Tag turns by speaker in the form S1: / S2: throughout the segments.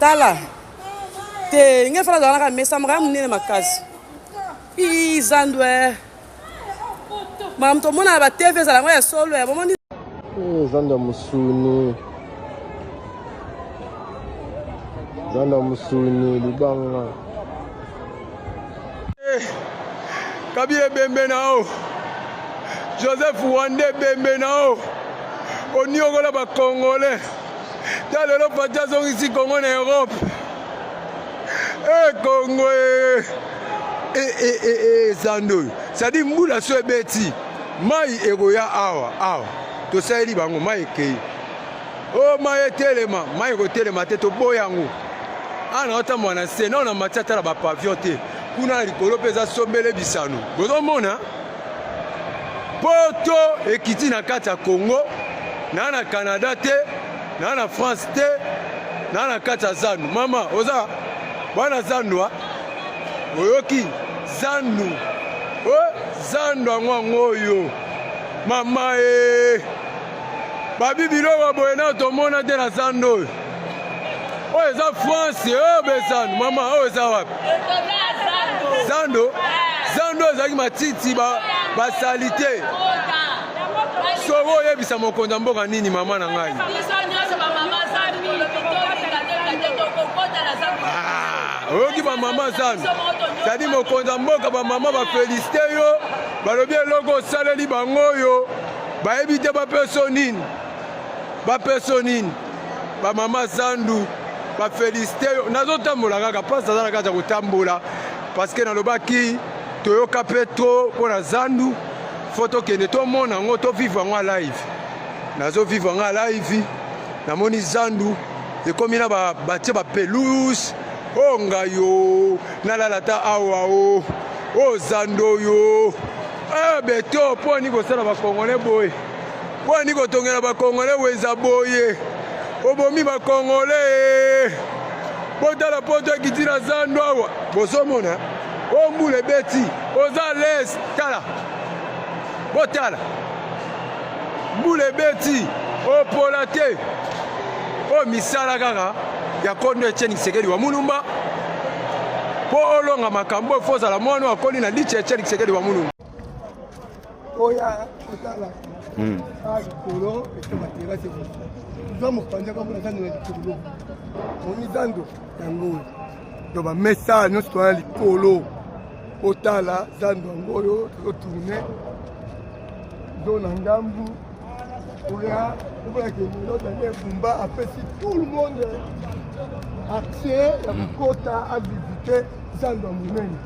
S1: tala te nge fana azalaka mesa mokaya monene makasi ii zandwe makambo tomonaka ba tv ezala yango ya solo ya bomoni eh, zanda
S2: mosuni zanda mosuni libanga Eh,
S3: kabila ebembe na yo joseph wande ebembe na yo oniokola bakongole ta lelo pati azongisi kongo na europe ekongo eh, eh, eh, zando oyo sadi mbula so ebeti mai ekoya awa awa tosaleli bango mai ekei o oh, mai etelema mai ekotelema te toboya yango awa ah, naotambola na nse nao na mati atala bapavion te kuna na likolo mpe eza sombele bisano bozomona poto ekiti na kati ya congo naa na canada te naa na france te naa na kati ya zandu mama oza bwana zandwa oyoki zandu o oh, zandu yango yango oyo mama e eh. babi biloko boye nao tomona te na zando oyo oyo eza france oyo eh, bezando mama oyo eza wapi zando zando ezalaki matiti basali te soki oyebisa mokonzi ya mboka nini mama na ngai ah, oyoki bamama zando zali mokonzi ya mboka bamama bafelisite yo balobi eloko osaleli bango oyo bayebi te bapeso nini bapeso nini bamama zandu bafelisite yo nazotambola kaka mpasi aza na kati ya kotambola parceke nalobaki toyoka mpe tro mpo na zandu fo tokende tomona yango tovivre yango ya live nazovivre yango ya live namoni zandu ekomi na batie bapelouse o oh, ngai yo nalala ata awa o oh, o oh, zando yo Ah, beto mpo ani kosala bakongole boye mpo ani kotongela bakongole weza boye obomi bakongole botala poto ekiti na zando awa bozomona o mbula ebeti oza les tala botala mbula ebeti opola te oyo misala kaka ya kondo etieni kisekedi wa mulumba mpo olonga makambo oyo fo ozala mwana akoli na lice etieni kisekedi wa mulumba
S4: oya otala hmm. a likolo ete materase eza mopanzi kaka na zando na likolo oni zando yango oyo to bamesa nyonso toya likolo otala zando yango oyo totourne zo na ngambu oya okolaki minota nde ebumba apesi tout le monde accès ya kokota avisite zando ya monene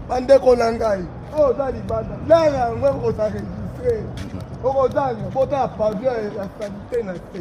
S4: bandeko na ngai oyo oza libanda lala yango ekokosa registre okozanga botala pavio ya salite na se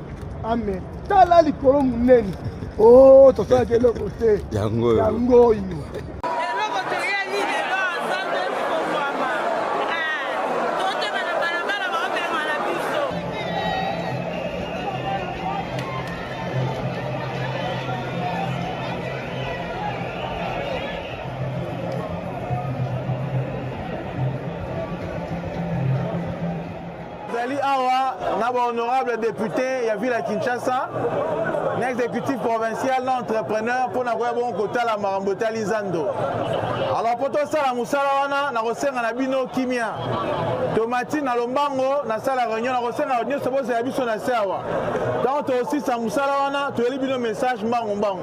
S4: Amen. Tala likolo munene. Oh, tosalaki eloko te. Yango oyo. Yango oyo.
S5: Tozali awa na ba honorable depute ya ville ya Kinshasa na exécutif provincial na entrepreneur mpo na koya bongo kotala makambo etali zando alors mpo tosala mosala wana nakosenga na bino kimia tomati na lombango nasala réunion nakosenga nyonso bozala biso na se awa ntango tokosisa mosala wana toyeli bino message mbangu mbangu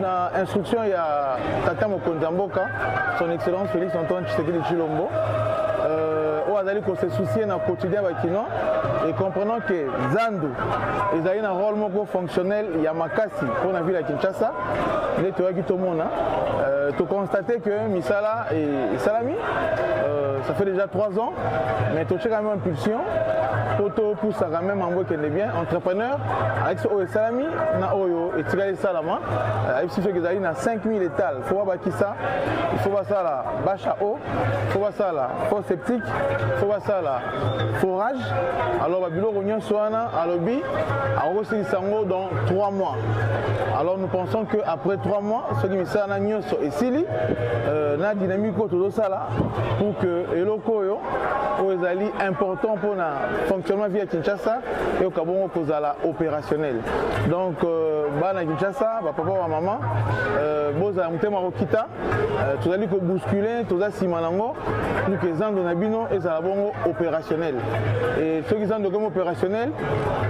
S5: na instruction ya tata mokonzi ya mboka son excellence félix antoine tshisekedi tshilombo euh, oyo azali kose soucie na quotidien bakinois et comprenant que zandu ezali na rôle moko fonctionnel ya makasi mpo na ville ya kinshasa nde toyaki tomona euh, toconstate que misala esalami euh, ça fait déjà trois ans mais totie quand même impulsion mpo topusaka même yango ekende bien entrepreneur alakisi oyo esalami na oyo etikali esalama ayebisi soki ezali na 5000 etal fo babakisa ifo basala bache a eau fo basala fo septique fo basala forage alors babiloko nyonso wana alobi akokosilisa yango dans 3 mois alors nous pensons que après 3 mois soki misala na nyonso esili euh, na dynamique oyo tozosala pour que eloko oyo oyo ezali important mpona fonctionnement via kinshasa eyoka bongo kozala opérationnel donc euh, bana kinshasa bapapa bamama euh, bozala motema kokita euh, tozali kobouscule toza nsima nango pour que zando na bino ezala bongo opérationnel e soki zando ekomi opérationnel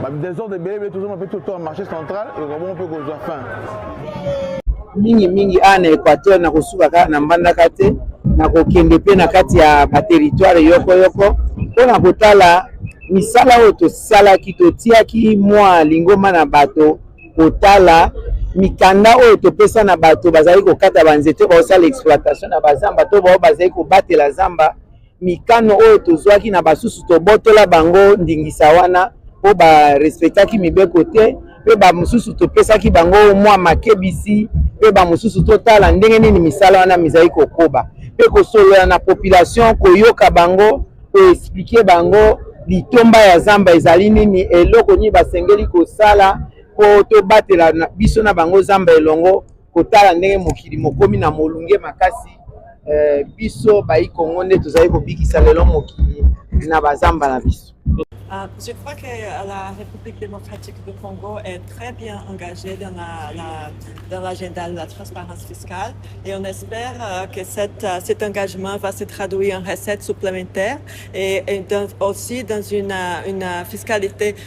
S5: badesordre ebele ebele tozoma mpe toto ya marché central ekoka bongo mpe kozwa fin mingi mingi
S6: awa na équateur na kosuka kaka na mbandaka te na kokende mpe na kati ya bateritware yoko yoko mpo na kotala misala oyo tosalaki totiaki mwa lingomba na bato kotala mikanda oyo topesa na bato bazali kokata banzete baosala exploitation na bazamba to bao bazali kobatela zamba mikano oyo tozwaki na basusu tobotola bango ndingisa wana mpo barespectaki mibeko te mpe bamosusu topesaki bango mwa makebisi mpe bamosusu totala ndenge nini misala wana mizali kokoba mpe kosolola na population koyoka bango koexplike bango litomba ya zamba ezali nini eloko nini basengeli kosala mpo tobatela biso na bango zamba elongo kotala ndenge mokili mokomi na molunge makasi eh, biso bayi kongo nde tozali kobikisa lelo mokili na bazamba na biso Uh, je crois
S7: que euh, la République démocratique du Congo est très bien engagée dans, la, la, dans l'agenda de la transparence fiscale et on espère euh, que cette, euh, cet engagement va se traduire en recettes supplémentaires et, et dans, aussi dans une, euh, une fiscalité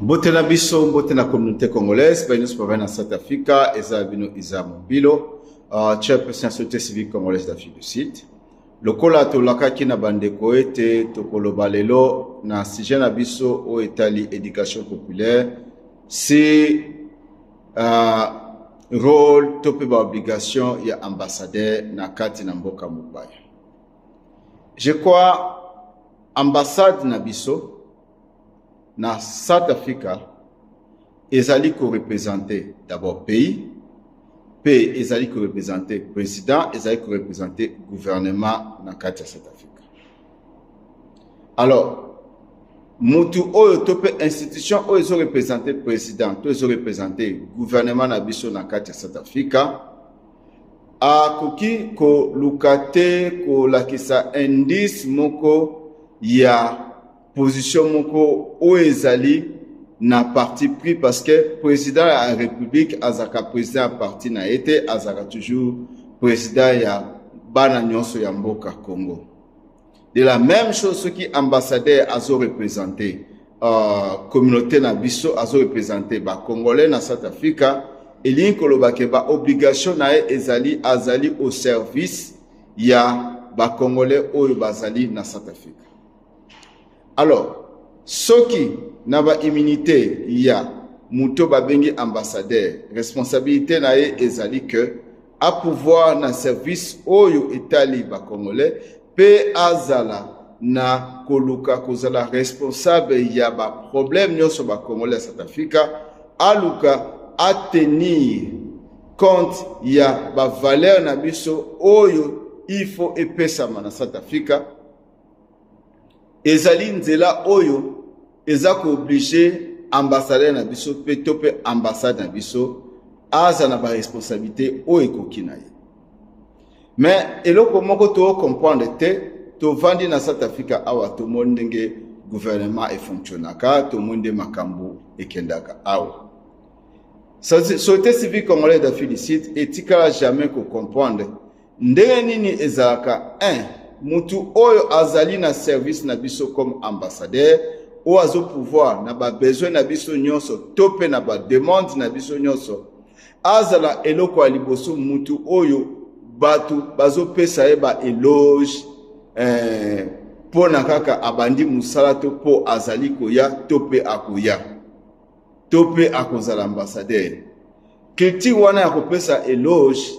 S8: mbote na biso mbote na communauté congolaise baye nyonso bavai na south africa eza bino iza mobilo uh, ah, chairperson ya société civique congolaise d'afrique du sud lokola tolakaki na bandeko ete tokoloba lelo na sujet na biso oyo etali éducation populaire si uh, role to mpe baobligation ya ambassadeur na kati na mboka mopaya je crois ambassade na biso na south africa ezali korepresente d'abord pays mpe ezali korepresente président ezali korepresente gouvernement na kati ya south africa alors mutu oyo to mpe institution oyo ezorepresente président to ezorepresente gouvernement na biso na kati ya south africa akoki koluka te kolakisa indice moko ya position moko oyo ezali na parti pris parce que président ya république azalaka président ya parti na ye te azalaka toujours président ya bana nyonso ya mboka congo de la même chose soki ambassadeur azo représente uh, communauté na biso azo représente bacongolais na south africa elingi koloba ke baobligation na ye ezali azali au service ya bacongolais oyo bazali na south africa alors soki na ba immunité ya moto babengi ambassadeur responsabilité na ye ezali que a pouvoir na service oyo etali bacongolais mpe azala na koluka kozala responsable ya baproblème nyonso bacongolais ya south africa aluka atenir compte ya bavaleur na biso oyo il faut epesama na south africa ezali nzela oyo eza kooblige ambassadeur na biso mpe to mpe ambassade na biso aza na baresponsabilité oyo ekoki na ye me eloko moko tocomprendre te tovandi na south africa awa tomoni ndenge gouvernement efonctionnaka tomoni nde makambo ekendaka awa société civile congolaise d'afrique du sud etikala jamais kocomprendre ndenge nini ezalaka un mutu oyo azali na service na biso comme ambassadeur oyo azo pouvoir na ba besoin na biso nyonso to mpe na ba demande na biso nyonso azala eloko ya liboso mutu oyo bato bazopesa ye ba eloge eh, mpo na kaka abandi mosala to mpo azali koya to mpe akoya to mpe akozala ambassadeur culture wana ya kopesa eloge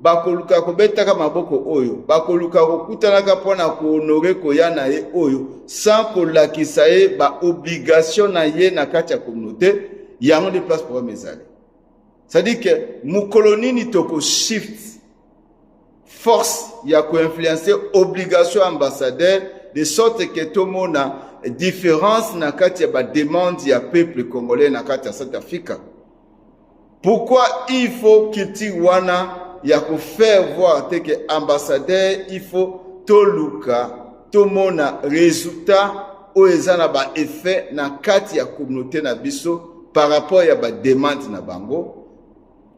S8: bakoluka kobetaka maboko oyo bakoluka kokutanaka mpo na kohonore koya na ye oyo sans kolakisa ye baobligation na ye na kati ya communauté yango nde place programme ezali cestadire ke mokolo nini tokoshift force ya koinfluence obligation ya ambassadeur de sorte ke tomona différence na kati ya bademande ya peuple congolais na kati ya south africa Pourquoi il faut culture wana ya ko faire voir te que ambassadeur il faut toluka tomona résultat oyo eza na ba effet na kati ya communauté na biso par rapport ya ba demande na bango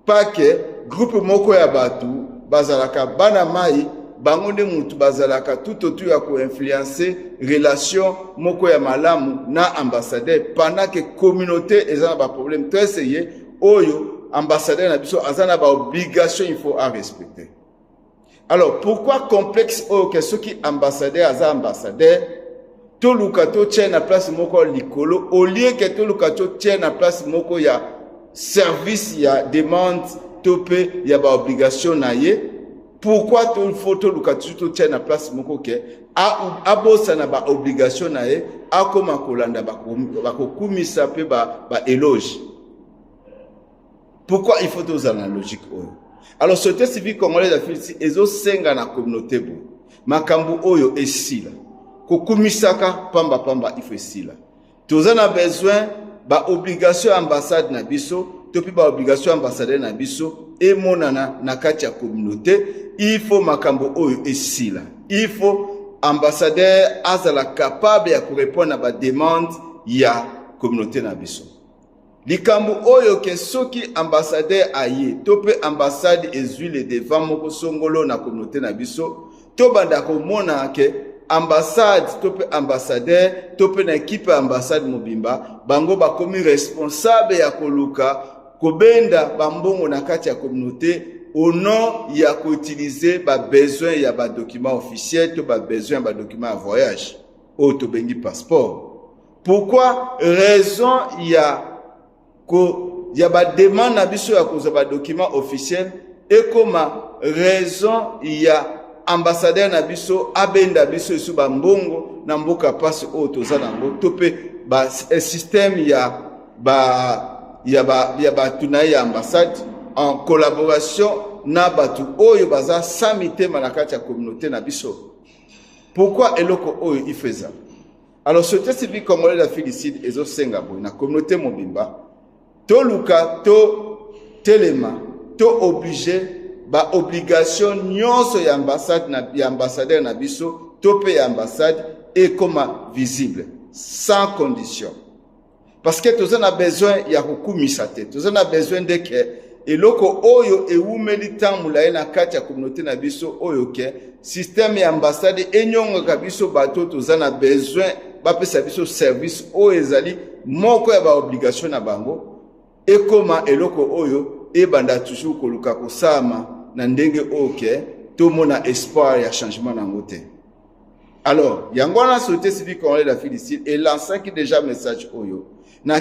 S8: pas que groupe moko ya bato bazalaka bana mai bango nde mutu bazalaka tout autour ya koinfluence relation moko ya malamu na ambassadeur pendant ke communauté eza na baproblème to eseye oyo ambassadeur na biso aza na baobligation il faut arespecter alors pourquoi complexe oyo ke soki ambassadeur aza ambassadeur toluka totya na place moko ya likolo olie ke toluka totya na place moko ya service ya demande to mpe ya baobligation na ye pourkui tofo toluka tutu totya na place moko ke abosana baobligation na ye akóma kolanda bakokumisa mpe baeloge ba Pourquoi il faut tozala na logique oyo? Alors société civile congolaise afilisi ezosenga na communauté bo makambo oyo esila kokumisaka pamba pamba il faut esila. Toza na besoin ba obligation ya ambassade na biso to mpe ba obligation ya ambassadeur na biso emonana na kati ya communauté. Il faut makambo oyo esila. Il faut ambassadeur azala capable ya korepondre na bademande ya communauté na biso. likambo oyo ke soki ambassadeur aye to mpe ambassade ezwi le devant moko songolo na communauté na biso tobanda komona ke ambassade to mpe ambassadeur to mpe na ekipe ya ambassade mobimba bango bakomi responsable ya koluka kobenda bambongo na kati ya communauté au nom ya koutilize babesoin ya badocument officiel to babesoin ya badocument ya voyage oyo tobengi passeport pourquoi raison ya ko ya bademande na biso ya kozwa badocument officiel ekoma raison ya ambassadeur na biso abenda biso esu bambongo na mboka mpasi oyo toza nango to mpe eh, système ya ba ya ba ya bato na ye ya ambassade en collaboration na bato oyo baza sa mitema na kati ya communauté na biso pourquoi eloko oyo ifeza Alors société civile congolaise ya Filicide ezosenga boye na communauté mobimba toluka to telema to oblige ba obligation nyonso ya ambassade na ya ambassadeur na biso to mpe ya ambassade ekoma visible sans condition parce que toza na besoin ya kokumisa te toza na besoin nde ke eloko oyo ewumeli ntango molaye na kati ya communauté na biso oyo ke systeme ya ambassade enyongaka biso bato toza na besoin bapesa biso service oyo ezali moko ya baobligation na bango ekoma eloko oyo ebanda toujours koluka kosalama na ndenge oyo ke tomona espoir ya changement na yango te Alors, yango wana société civile congolaise d'Afrique du Sud elancaki déjà message oyo na